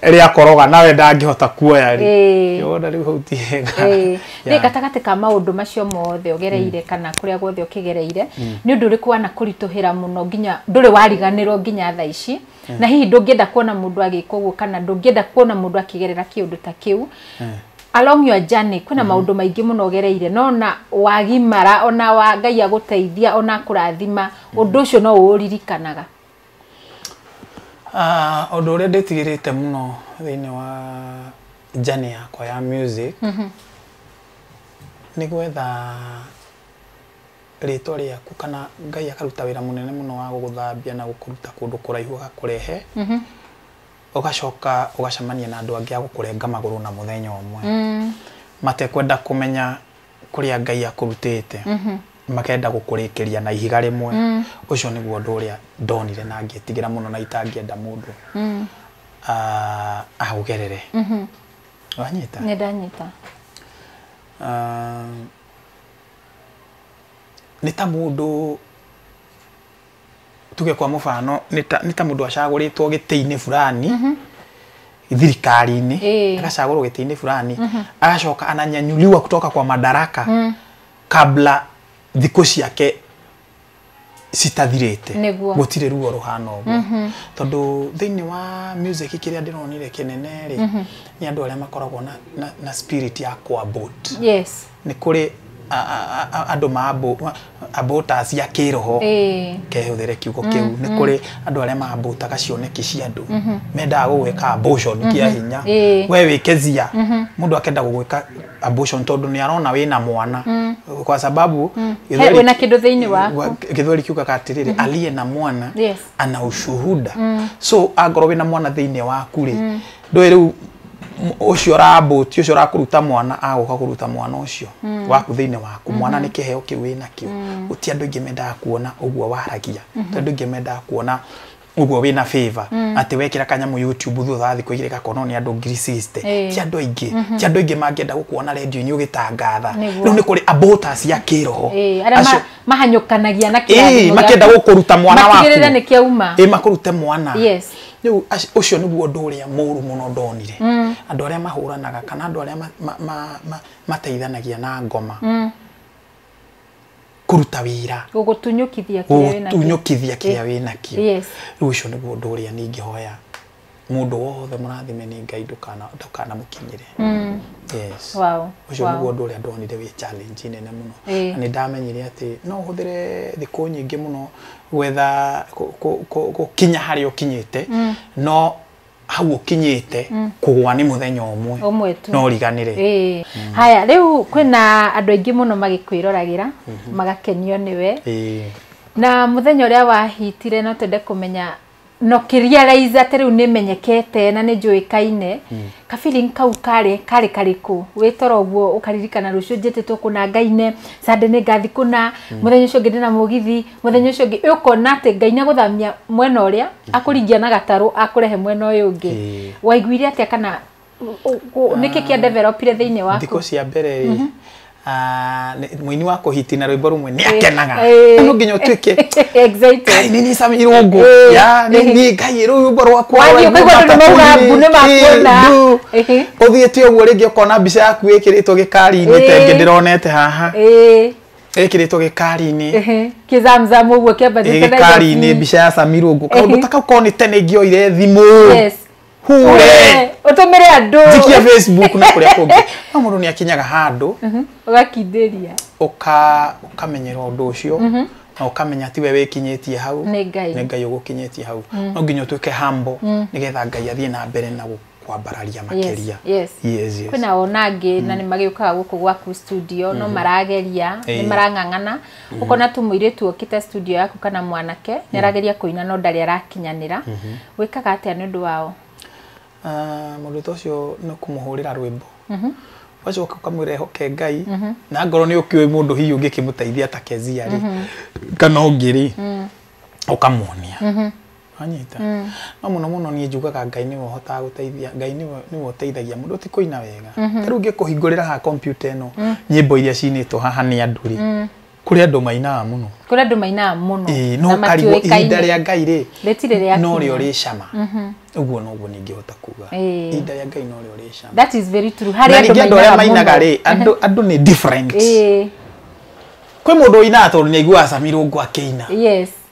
rĩa koroga nawe ndangĩhota kuoya rĩ Ĩĩ. Nĩ wona rĩu hau ti hega Ĩĩ. Nĩ Yeah. gatagatĩ ka maũndũ macio mothe ũgereire kana kũrĩa guothe ũkĩgereire nĩ ũndũ ũrĩkũ wanakũritũhĩra mũno nginya ndũrĩ wariganĩrwo nginya tha ici na hihi ndũngĩenda kuona mũndũ agĩka ũguo kana ndũngĩenda kuona mũndũ akĩgerera kĩũndũ ta kĩu along your journey kwĩna maũndũ maingĩ mũno ũgereire no na wagimara ona wa ngai agũteithia ona akũrathima ũndũ ũcio no ũũririkanaga Ũndũ ũrĩa ndĩtigĩrĩte mũno thĩinĩ wa journey yakwa ya music mhm. nĩ gwetha rĩtwa rĩaku kana Ngai akaruta wĩra mũnene mũno wa gũgũthambia na gũkũruta kũndũ kũraihu agakũrehe mhm. ũgacoka ũgacemania na andũ angĩ a gũkũrenga magũrũ na mũthenya ũmwe mm. matekwenda kũmenya kũrĩa ngai akũrutĩte makenda gũkũrĩkĩria na ihiga rĩmwe ũcio nĩguo ũndũ ũrĩa ndonire na ngĩtigĩra mũno na itangĩenda mũndũ ah, aũgerere wanyita nĩ ndanyita Ah, nĩ ta mũndũ tuge kwa mũbano nĩ ta- nĩ ta mũndũ acagũrĩtwo gĩtĩ-inĩ fulani thirikari-inĩ Ĩĩ. agacagũrwo gĩtĩ-inĩ fulani agacoka ananyanyuliwa kutoka kwa madaraka kabla thikũ ciake citathirĩte Nĩguo. gũtirĩ ruo rũhana ũguo tondũ thĩinĩ wa music kĩrĩa ndĩronire kĩnene rĩ nĩ andũ arĩa makoragwo na, na, na spirit ya kwambut yes nĩ kũrĩ a- a- a- a- andũ mambũ ambũta cia kĩroho Ĩĩ. kehũthĩre kiugo kĩu nĩ kũrĩ andũ arĩa mambũtaga cioneki cia andũ mendaga gũgwĩka abortion kĩa hinya Ĩĩ. we wĩkezia mũndũ akenda gũgwĩka abortion tondũ nĩ arona wĩna mwana kwa sababu He- gĩthweri- wĩna kĩndũ thĩinĩ waku wa- gĩthweri kiugaga atĩrĩrĩ aliye na mwana Yes. ana ushuhuda so angorwo wĩna mwana thĩinĩ waku rĩ ndũĩ rĩu m- ũcio ũrambũti ũcio ũrakũruta mwana agũka kũruta mwana ũcio waku thĩinĩ waku mwana nĩ kĩheo kĩu wĩ nakĩo gũti andũ aingĩ mendaga kuona ũguo waragia ti andũ aingĩ mendaga kuona ũguo wĩ na favor atĩ wekĩra kanyamũ youtube thutha wa thikũ igĩrĩ gakonwo nĩ andũ ngiri 60 Ĩĩ. ti andũ aingĩ ti andũ aingĩ mangĩenda gũkuona redio-inĩ ũgĩtangatha Nĩguo. rĩu nĩ kũrĩ abota cia kĩroho Eh, arĩa Acio- ma- mahanyũkanagia na Ĩĩ, kĩrathimo makĩenda gĩaku. gũkũruta mwana waku matigĩrĩre nĩ kĩauma Ĩĩ, makũrute mwana Yes. rĩu ac- ũcio nĩguo ũndũ ũrĩa mũru mũno ndonire andũ arĩa mahũranaga kana andũ arĩa ma- ma- ma- ma- mateithanagia na ngoma kũruta wĩra gũgũtunyũkithia kĩrĩa wĩna kĩo. gũtunyũkithia kĩrĩa wĩ nakĩo Yes. rĩu ũcio nĩguo ũndũ ũrĩa ningĩhoya mũndũ wothe mũrathime nĩ ngai ndũkana- ndũkanamũkinyĩre yes Wow, ũcio wow. nĩguo ũndũ ũrĩa ndonire wĩ challenge nene mũno Eh. na nĩ ndamenyire atĩ no ũhũthĩre thikũ nyingĩ mũno gwetha gũkinya harĩa ũkinyĩte mm. no hau ũkinyĩte mm. kũgwa nĩ mũthenya ũmwe no ũriganĩre mm. haya rĩu kwĩna andũ aingĩ mũno magĩkwĩroragĩra mm-hmm. magakenio nĩwe na mũthenya ũrĩa wahitire no twende kũmenya no kĩriaraiza atĩ rĩu nĩ menyekete na nĩ njũĩkaine hmm. ka feeling kau karĩ karĩ karĩkũ wĩ toro ũguo ũkaririkana rũciũ njĩtĩtwo kũna ngaine sande nĩ ngathi kũna hmm. mũthenya ũcio ũngĩ ndĩna mũgithi mũthenya ũcio ũngĩ ũkona atĩ ngai nĩ agũthamia mwena ũrĩa hmm. akũringia na gatarũ akũrehe mwena ũyũ ũngĩ waiguire atĩa kana nĩkĩ kĩa developire thĩinĩ waku thikũ cia mbere rĩ ah, nĩ- mũini wa kũhiti na rwĩmbo rũmwe nĩ akenaga Eh. no nginya ũtuĩke Excited. ngai nĩ niĩ Sam irũngũ Eh. ya nĩ niĩ ngai rwĩmbo rwakwa Wathiĩ rwa ũkaigua andũ Ijumaa nĩmauga Kapuni, mbu nĩmakuona. eh, mbu. Ehe. ũthiĩte ũguo rĩngĩ ũkona mbica yaku ĩkĩrĩtwo gĩkari-inĩ Eh. tengĩ ndĩronete haha Ĩĩ, ĩkĩrĩtwo gĩkari-inĩ ĩhĩ. kĩzamzamu ũguo kĩambatĩte na gĩkari-inĩ igooti. mbica ya Sam irũngũ kaũndũ Ehe. ta kau korwo nĩ tene ingĩoire thimũ Yes. hure utũmĩre andũ thikia facebook na kũrĩa kũngĩ no mũndũ nĩ akinyaga handũ ũgakindĩria ũka ũkamenyera ũndũ ũcio na ũkamenya ti we wĩkinyĩtie hau Nĩ Ngai. nĩ ngai ũgũkinyĩtie hau no nginya ũtuĩke humble nĩgetha ngai athiĩ na mbere na gũ- kwambararia makĩria yes. yes, yes. kwĩna ona angĩ na nĩ magĩũkaga gũkũ gwaku studio no marageria nĩ Ĩĩ. marang'ang'ana ukona tu muiritu okite studio yaku kana mwanake mm. nirageria kuina no ndari arakinyanira mm-hmm. wikaga atia ni undu wao ah, muruto ucio no kumuhurira rwimbo mm-hmm. wacoka ukamwira ehoke ngai mm-hmm. na ngoro ni ukioi mundu hihi ungikimuteithia ta kezia ri kana ungiri mm. ukamuonia Wanyita? Mm. No muno muno nie njugaga Ngai niwe uhotaga guteithia, Ngai niwe niwe uteithagia mundu ti kuina wega. Mm -hmm. Riu ngikuhingurira ha computer ino mm. nyimbo iria cinitwo haha ni andu ri. Mm. Kuri andu mainaga muno. Kuri andu mainaga muno. Eh, no karigo ihinda ria Ngai ri. Retire ria. No ri uri cama. Mm -hmm uguo no guo ningihota kuga eh. inda ya ngai no ri cama that is very true hari andu mainaga muno mainaga ri andu andu ni different eh kwi mundu ina tondu ni aigua acamirwo ngwa kiina yes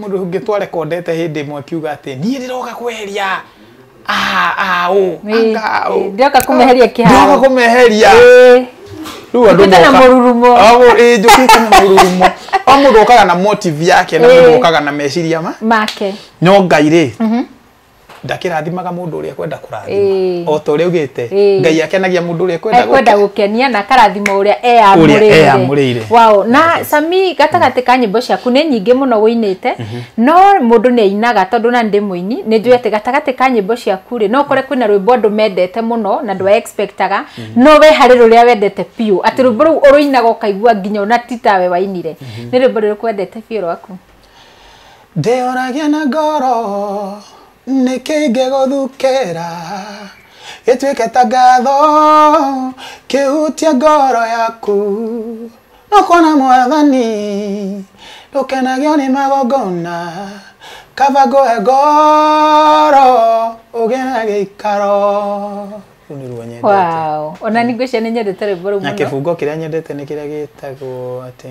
Mũndũ ũngĩ twarekondete hĩndĩ ĩmwe akiuga atĩ niĩ ndĩroka kweheria ndĩroka kũmeheria kĩharo ndĩroka kũmeheria rĩu andũ moka na mũrurumo ĩĩ njũkĩte na mũrurumo o mũndũ okaga na motive yake na mũndũ okaga na meciria make no ngai rĩ mhm. ndakĩrathimaga mũndũ ũrĩa ekwenda kũrathima o ta ũrĩa ugĩte ngai akenagia mũndũ ũrĩa ekwenda gũkenia na akarathima ũrĩa eyamũrĩire wao na sami gatagatĩ ka nyĩmbo ciaku nĩ nyingĩ mũno wĩinĩte mhm. no mũndũ nĩ ainaga tondũ na ndĩ mũini nĩ njũĩ atĩ gatagatĩ ka nyĩmbo ciaku rĩ no ũkore kwĩna rwĩmbo andũ mendete mũno na ndwa expectaga mhm. no we harĩ rũrĩa wendete biũ atĩ rwĩmbo rũu ũrũinaga ũkaigua nginya ona titawe wainire mhm. nĩ rwĩmbo rũrĩkũ wendete biũ rwaku Ndĩyũragia na ngoro nĩkĩ ingĩgũthukĩra gĩtuĩke ta ngatho kĩhutie ngoro yaku no kuona mwathani ndũkenagio nĩ magongona kaba ngũhe ngoro ũgĩe na gĩikaro Rũu nĩruo nyendete. wow ona ningwĩcia nĩ nyendete rwĩmbo rũu na mũno kĩbungo kĩrĩa nyendete nĩ kĩrĩa gĩtagwo atĩ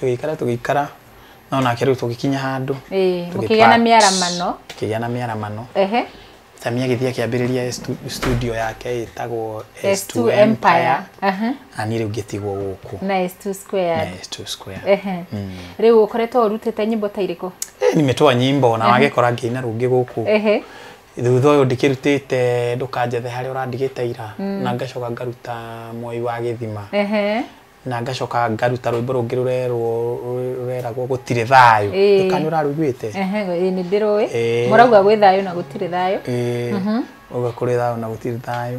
tũgĩikara tũgĩikara no nake rĩu tũgĩkinya handũ Ĩĩ, Tũgĩ mũkĩgĩa na part. mĩaramano kĩgĩa na mĩaramano ehe Sami agĩthiĩ akĩambĩrĩria stu- studio yake ĩtagwo S2 Empire Aha. na niĩ rĩu ngĩtigwo gũkũ na S2 squared na S2 Square ehe rĩu ũkoretwo ũrutĩte nyĩmbo ta irĩkũ Eh, nimetoa nyimbo na wagĩkora ngĩina rũngĩ gũkũ ehe thutha ũyũ ndĩkĩrutĩte ndũkanjethe harĩa ũrandigĩte ira na ngacoka ngaruta mwoi wa gĩthima ehe na ngacoka ngaruta rwĩmbo rũngĩ rũrerwo rũ- rũreragwo gũtirĩ thayũ Ĩĩ. kana ũrarũiguĩte Ehe, ĩĩ, nĩ ndĩrũĩ Ĩĩ. mũrauga gwĩ thayũ na gũtirĩ thayũ Ĩĩ, uga kũrĩ thayũ na gũtirĩ thayũ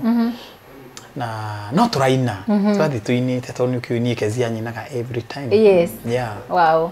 na no tũraina tũrathiĩ tũinĩte tondũ nĩ ũkĩũi niĩ kezia nyinaga every time Yes. yeah. wow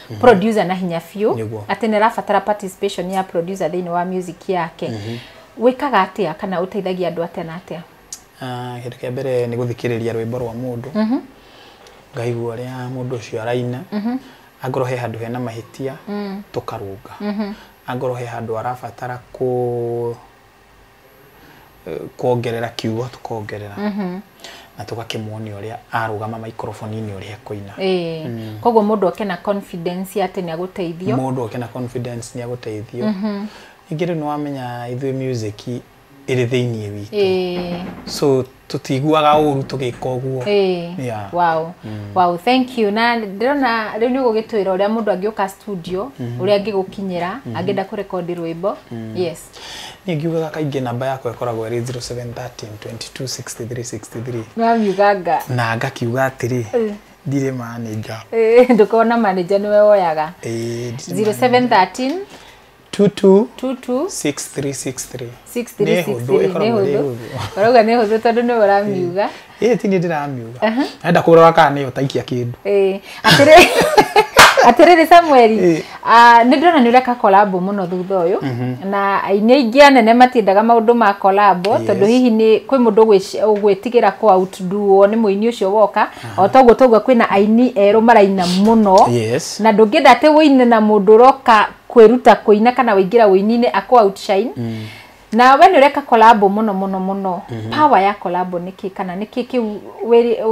mm -hmm. producer na hinya biũ Nĩguo. atĩ nĩ arabatara participation ya producer thĩinĩ wa music yake mm -hmm. wĩkaga atĩa kana ũteithagia andũ atĩa na atĩa Ah, kĩndũ kĩa mbere nĩ gũthikĩrĩria rwĩmbo rwa mũndũ ngaigua ũrĩa mũndũ ũcio araina angorwo he handũ hena mahĩtia tũkarũnga angorwo he handũ arabatara kũ kuongerera kiugo tukongerera na tugakĩmuonia ũrĩa arũgama maikoroboni-inĩ ũrĩa ekũina mm. koguo mũndũ oke na confidence ya atĩ nĩ agũteithio mũndũ oke na confidence nĩ agũteithio mm-hmm. ningĩ rĩu nĩ wamenya ithuĩ music ĩrĩ thĩinĩ witũ so tũtiiguaga ũru tũgĩka ũguo yeah. wow. Mm. wow thank you na ndĩrona rĩu nĩ ũgũgĩtwĩra ũrĩa mũndũ angĩũka studio mm -hmm. ũrĩa angĩgũkinyĩra mm -hmm. angĩenda kũrekondi rwĩmbo mm. yes nĩ ngiugaga kaingĩ namba yakwa ĩkoragwo ĩrĩ 0713 226363 na ngakiuga atĩrĩ mm ndirĩ manager ndũkona manager nĩwe woyaga 0713 22 tutu 6363 Nĩ hũthũ, 6363 ĩkoragwo ĩrĩ hũthũ ũrauga nĩ hũthũ tondũ nĩ ũramiuga ĩĩ ti niĩ ndĩramiuga enda kũrora kana nĩyo taikia kĩndũ Eh, atĩrĩ- atĩrĩrĩ samueli Eh. ah, nĩ ndĩrona nĩ ũreka kolabo mũno thutha ũyũ na aini aingĩ anene matiendaga maũndũ ma kolabo Yes. tondũ hihi nĩ kwĩ mũndũ ũgwĩci- ũgwĩtigĩra kũautnduo nĩ mũini ũcio woka o toguo toguo kwĩna aini erũ maraina mũno yes na ndũngĩenda atĩ wĩine na mũndũ ũroka kwĩruta kũina kana waingĩra ũininĩ akũ outshine mm. na we nĩ ũreka kolabo mũno mũno mũno mm -hmm. power ya kolabo nĩ kĩ kana nĩ kĩ kĩu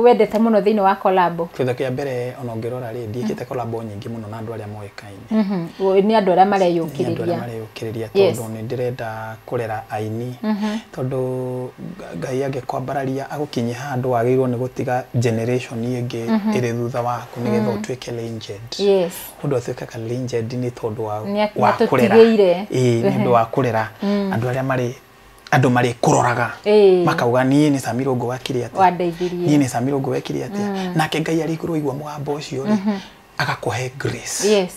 wendete mũno thĩinĩ wa kolabo kĩndũ kĩa mbere ona ũngĩrora rĩ ndiĩkĩte kolabo nyingĩ mũno na andũ arĩa moĩkaine mm -hmm. nĩ andũ arĩa mareyũkĩrĩria mareyũkĩrĩria tondũ nĩ ndĩrenda kũrera aini mm -hmm. tondũ ngai angĩkwambararia agũkinyia handũ wagĩrĩirwo nĩ gũtiga generation ĩngĩ mm -hmm. ĩrĩ thutha waku nĩgetha mm -hmm. ũtuĩke legend yes. mũndũ atuĩke ka legend nĩ tondũ wa Nĩ at- wa kũrera nĩatũtigĩire. ĩĩ nĩ ũndũ wa kũrera andũ arĩa marĩ andũ marĩ kũroraga Ĩĩ. makauga niĩ nĩ Samiro ngo wakire atĩa Wandeithirie. niĩ nĩ Samiro ngo wekire atĩa nake Ngai arĩ igũrũ aigua mũgambo ũcio rĩ agakũhe grace yes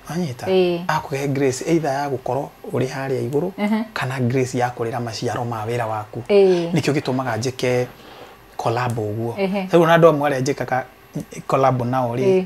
anyita Ĩĩ. akũhe grace either ya gũkorwo ũrĩ harĩa igũrũ kana grace ya kũrera maciaro ma wĩra waku Ĩĩ. nĩkĩo gĩtũmaga njĩke collab ũguo Ehe. rĩu na andũ amwe arĩa njĩkaga collab nao rĩ Ĩĩ.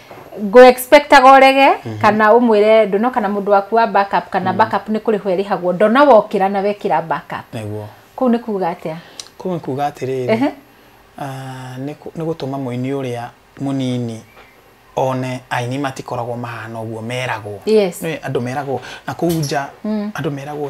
ngå expectaga orege mm -hmm. kana umwire ndono kana mundu waku wa backup kana mm -hmm. backup ni kuri hwe rihagwo ndona wokira na wekira backup niguo kuu ni kuga atia kuu ni kuga atiri uh -huh. uh, ni gutuma muini uria munini one aini matikoragwo mahana ũguo meragwo yes. andå meragwo na kå nja mm. andå meragwo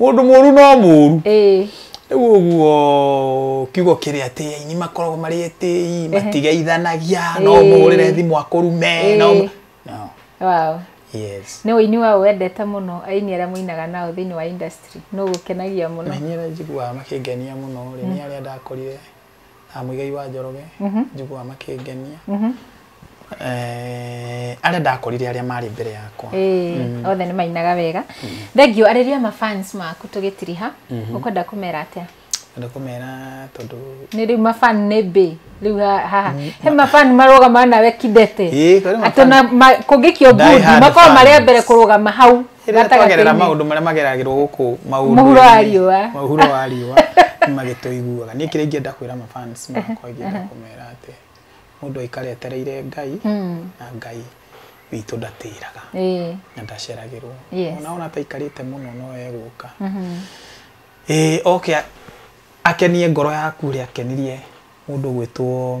Mũndũ mũru no mũru. Ĩĩ. Rĩu ũguo kiugo kĩrĩ atĩ aini makoragwo marĩ etĩi, matigeithanagia, no Ĩĩ. ũmũhũrĩre thimũ akũrume, no Ĩĩ. no. Wow. Yes. Nĩ ũini wa ũ wendete mũno aini arĩa mũinaga nao thĩinĩ wa industry? Nũ ũgũkenagia mũno? Na niĩ nĩ njiguaga makĩngenia mũno rĩ, nĩ arĩa ndakorire ah, Muigai wa Njoroge Mhm. njiguaga makĩngenia Mhm. Eh, arĩa ndakorire arĩa marĩ mbere yakwa Ĩĩ, othe nĩ mainaga wega thengio arĩria mafans maku tũgĩtiriha ũkwenda kũmera atĩa na kũmera tondũ nä rä u mafan nä mbä rä u haha he mafan marågama nawe kidete Ĩĩ, kũrĩ atå mafan- kå ngä kio Die ngundi hard makorwo fan. marä a mbere kå rå gama hau Rĩrĩa Gatagatĩ-inĩ. twagerera maũndũ marĩa mageragĩrwo gũkũ maũndũ Mũhuro wa riũa. mũhuro wa riũa nĩ magĩtũiguaga niĩ kĩrĩa ingĩenda kwĩra mafans makwa ingĩenda kũmera atĩ mũndũ aikare etereire ngai na ngai witũ ndatĩraga Ĩĩ. na ndaceragĩrwo Yes. ona ona ataikarĩte mũno no egũka ĩĩ oke a- akenie ngoro yaku ũrĩa akenirie mũndũ gwĩtwo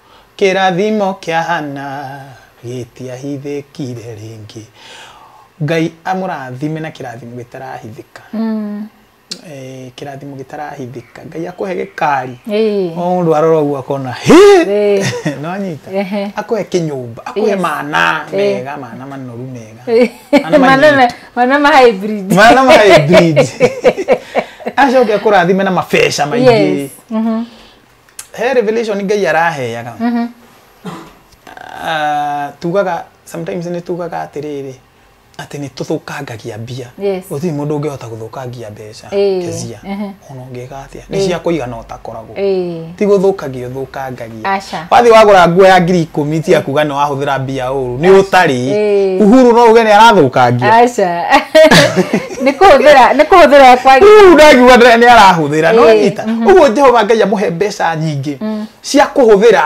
Kĩrathimo kĩa Hana gĩtiahithĩkire rĩngĩ. Ngai amũrathime na kĩrathimo gĩtarahithĩka. Mm. Eh, kĩrathimo gĩtarahithĩka. Ngai akũhe gĩkari. Ĩĩ. O mũndũ arora ũguo akona hĩ Ĩĩ. no anyita Ehe. akũhe kĩnyũmba akũhe Yes. mana Ĩĩ. mega mana manoru mega Mana manyitu. Manana- manama hybrid. mana ma hybrid. acoke akũrathime na mabeca maingĩ Yes. Mhm. he revelation ngai araheaga Ah, tugaga sometimes nĩ tugaga atĩrĩrĩ atĩ nĩ tũthũkangagia mbia Yes. gũtirĩ mũndũ ũngĩhota gũthũkangia mbeca Ĩĩ, kezia ehe. ona ũngĩka atĩa nĩ cia kũigana ũtakoragwo Ĩĩ. ti gũthũkagia ũthũkangagia Aca. wathiĩ wagũra nguo ya ngiri ikũmi ti akuga nĩ wahũthĩra mbia ũru nĩ ũtarĩ Ĩĩ. uhuru no uge nĩ arathũkangia Aca. nä kå hå thä ra nä kå hå thä ra kwagä rĩu ndagiuga nĩ nĩ arahũthĩra no Ĩĩ, nyita ũguo jehova ngai amũhe mbeca nyingĩ cia kũhũthĩra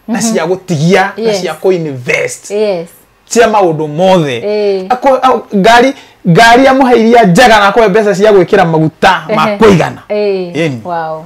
na cia gũtigia na Yes. cia kũinvest yes cia maũndũ mothe Ĩĩ. Akũ- au- ngari ngari amũhe iria njega na akũhe mbeca cia gwĩkĩra maguta ma Ehe. kũigana Ĩĩ. Ĩni. wow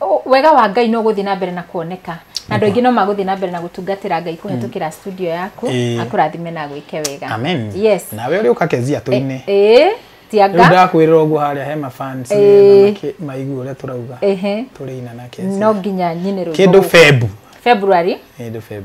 O- wega wa ngai no gũthiĩ na mbere na kuoneka na andũ aingĩ no magũthiĩ na mbere na gũtungatĩra ngai kũhetũkĩra studio yaku Ĩĩ. akũrathime na gwĩke wega amen yes nawe ũrĩ ũka kezia tũinĩ ĩĩ rĩu tianga ndakwĩrĩra ũguo harĩa he mafans Ĩĩ. nĩgetha makĩ- maigue ũrĩa tũrauga ehe tũrĩ ina na kezia no nginya nyine rwĩmbo kĩndũ rũu. feb february kĩndũ feb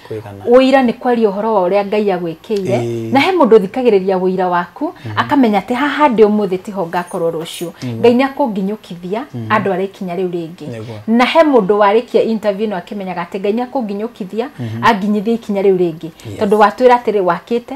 Kwĩgana. ũira nĩ kwaria ũhoro wa ũrĩa ngai agwĩkĩire Ĩĩ. na he mũndũ ũthikagĩrĩria ũira waku akamenya atĩ haha ndĩ ũmũthĩ tiho ngakorwo rũciũ ngai nĩ akũnginyũkithia andũ arĩa ikinya rĩu rĩngĩ Nĩguo. na he mũndũ warĩkia interview ĩno akĩmenyaga atĩ ngai nĩ akũnginyũkithia anginyithia ikinya rĩu rĩngĩ Yes. tondũ watwĩra atĩrĩ wakĩte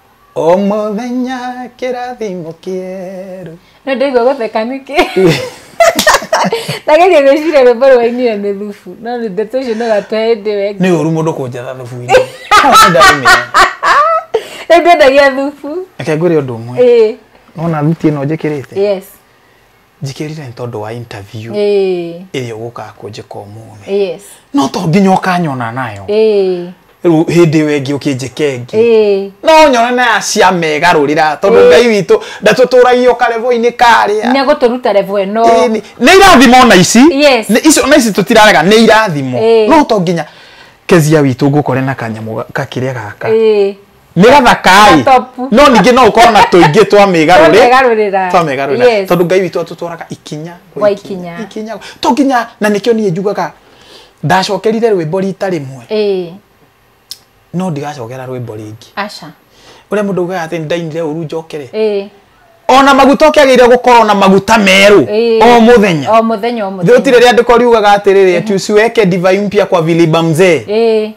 o mũthenya kĩrathimo kĩerũ no ndaigua gũtheka nĩkĩ ndageria gwĩciria rwĩmbo rwainire nĩ thubu no nĩ ndeto icio no gatũhe hĩndĩ ĩyo ĩngĩ nĩ ũru mũndũ kũnjatha thubu-inĩ rĩu ndwendagia thubu reke ngwĩre ũndũ ũmwe ĩĩ nona thuti ĩno njĩkĩrĩte yes njikirire nĩ tondå wa interview ĩĩ ĩrĩa ũgũkaga kũnjĩka ũmũthĩ yes no to nginya ũkanyona nayo ĩĩ rĩu hĩndĩ ĩyo ĩngĩ ũkĩnjĩka ĩngĩ ĩĩ no nyone na ya cia megarũrĩra tondå ngai witå ndatåtåragia å karevo-inĩ karĩa nä gå tå ruta revo ä no Ĩĩ, nĩ nĩ irathimo na ici Yes. Nĩ icio na ici tũtirarega nĩ irathimo Ĩĩ. no to nginya kezia witũ ngũkore na kanyamũ ga- kakĩrĩa gaka ĩĩ nĩ gathakaĩ Na topu. no ningĩ no ũkorwo na tũingĩ twa mĩgarũrĩ Twamegarũrĩra. twa mĩgarũrĩra Yes. tondũ ngai witũ atũtwaraga ikinya Gwa ikinya. ikinya to nginya na nĩkĩo niĩ njugaga ndacokerire rwĩmbo rita rĩmwe Ĩĩ, no ndigacokera rwĩmbo rĩngĩ aca ũrĩa mũndũ ugaga atĩ ndainire ũru njokere Ĩĩ, ona maguta ũkĩagĩrĩire gũkorwo na maguta merũ ĩĩ. o mũthenya o mũthenya o mũthenya gũtirĩ rĩandĩko riugaga atĩrĩrĩ ati usiweke divai mpya kwa viliba mzee Ĩĩ,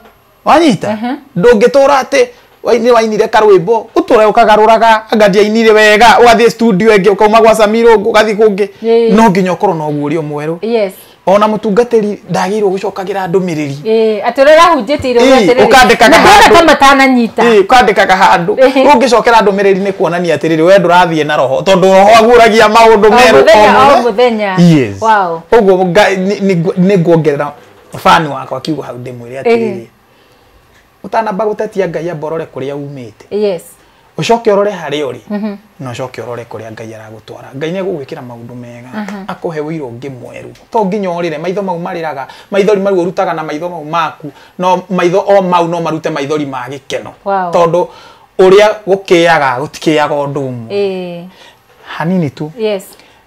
wanyita mm -hmm. ndũngĩtũra atĩ waini wainire karwimbo uture ukagaruraga anga ndiainire wega ugathie studio ingi ukauma gwa Samiro ugathie kungi no nginya ukorwo na ugurio mweru yes ona mutungatiri ndagirwo gucokagira ndumiriri eh atirira hunjiti iro atiriri ukandikaga handu kama tana nyita eh ukandikaga handu ungicokera ndumiriri ni kuonania atiriri we ndurathie na roho tondu roho aguragia maundu meru o muthenya yes wow uguo ni nguongerera fani wakwa akiuga hau ndĩmwĩre Ĩhĩ. atĩrĩrĩ ũtanamba gũtetia ngai amba ũrore kũrĩa umĩte yes ũcoke ũrore harĩa ũrĩ na ũcoke ũrore kũrĩa ngai aragũtwara ngai nĩ egũgwĩkĩra maũndũ mega akũhe ũira ũngĩ mwerũ to nginya ũrĩre maitho mau marĩraga maithori mau ũrutaga na maitho mau maku no maitho o mau no marute maithori ma gĩkeno Wow. tondũ ũrĩa gũkĩaga gũtikĩaga ũndũ ũmwe ĩĩ hanini tu yes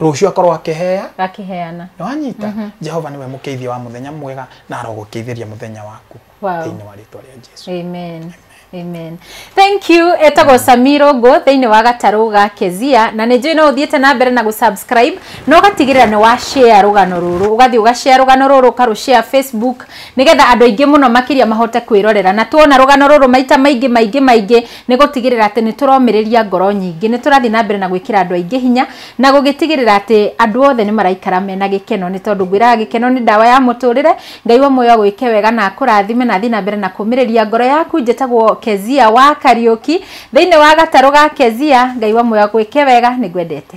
rũciũ akorwo akĩheya akĩheana nĩ wanyita jehova nĩwe mũkĩithia wa mũthenya mwega na arogũkĩithĩria mũthenya waku Wow. thĩinĩ wa rĩtwa rĩa jesu amen amen thank you etagwo samiro ngo thĩinĩ wa gatarũ ga kezia na nĩ njũĩ no ũthiĩte na mbere na gũsubscribe no ũgatigĩrĩra nĩ wa share rũgano rũrũ ũgathiĩ ũgashare rũgano rũrũ ũkarũshare facebook nĩgetha andũ aingĩ mũno makĩria mahote kwĩrorera na tuona rũgano rũrũ maita maingĩ maingĩ maingĩ Nĩ gũtigĩrĩra atĩ nĩ tũromĩrĩria ngoro nyingĩ, nĩ tũrathiĩ na mbere na gwĩkĩra andũ aingĩ hinya, na gũgĩtigĩrĩra atĩ andũ othe nĩ maraikara mena gĩkeno, nĩ tondũ ngwĩraga gĩkeno nĩ ndawa ya mũtũrĩre. Ngai wa muoyo agwĩke wega na akũrathime na athiĩ na mbere na kũmĩrĩria ngoro yaku. Njĩtagwo Kezia wa Kariũki, thĩinĩ wa gatarũ ga Kezia. Ngai wa muoyo agwĩke wega, nĩ ngwendete.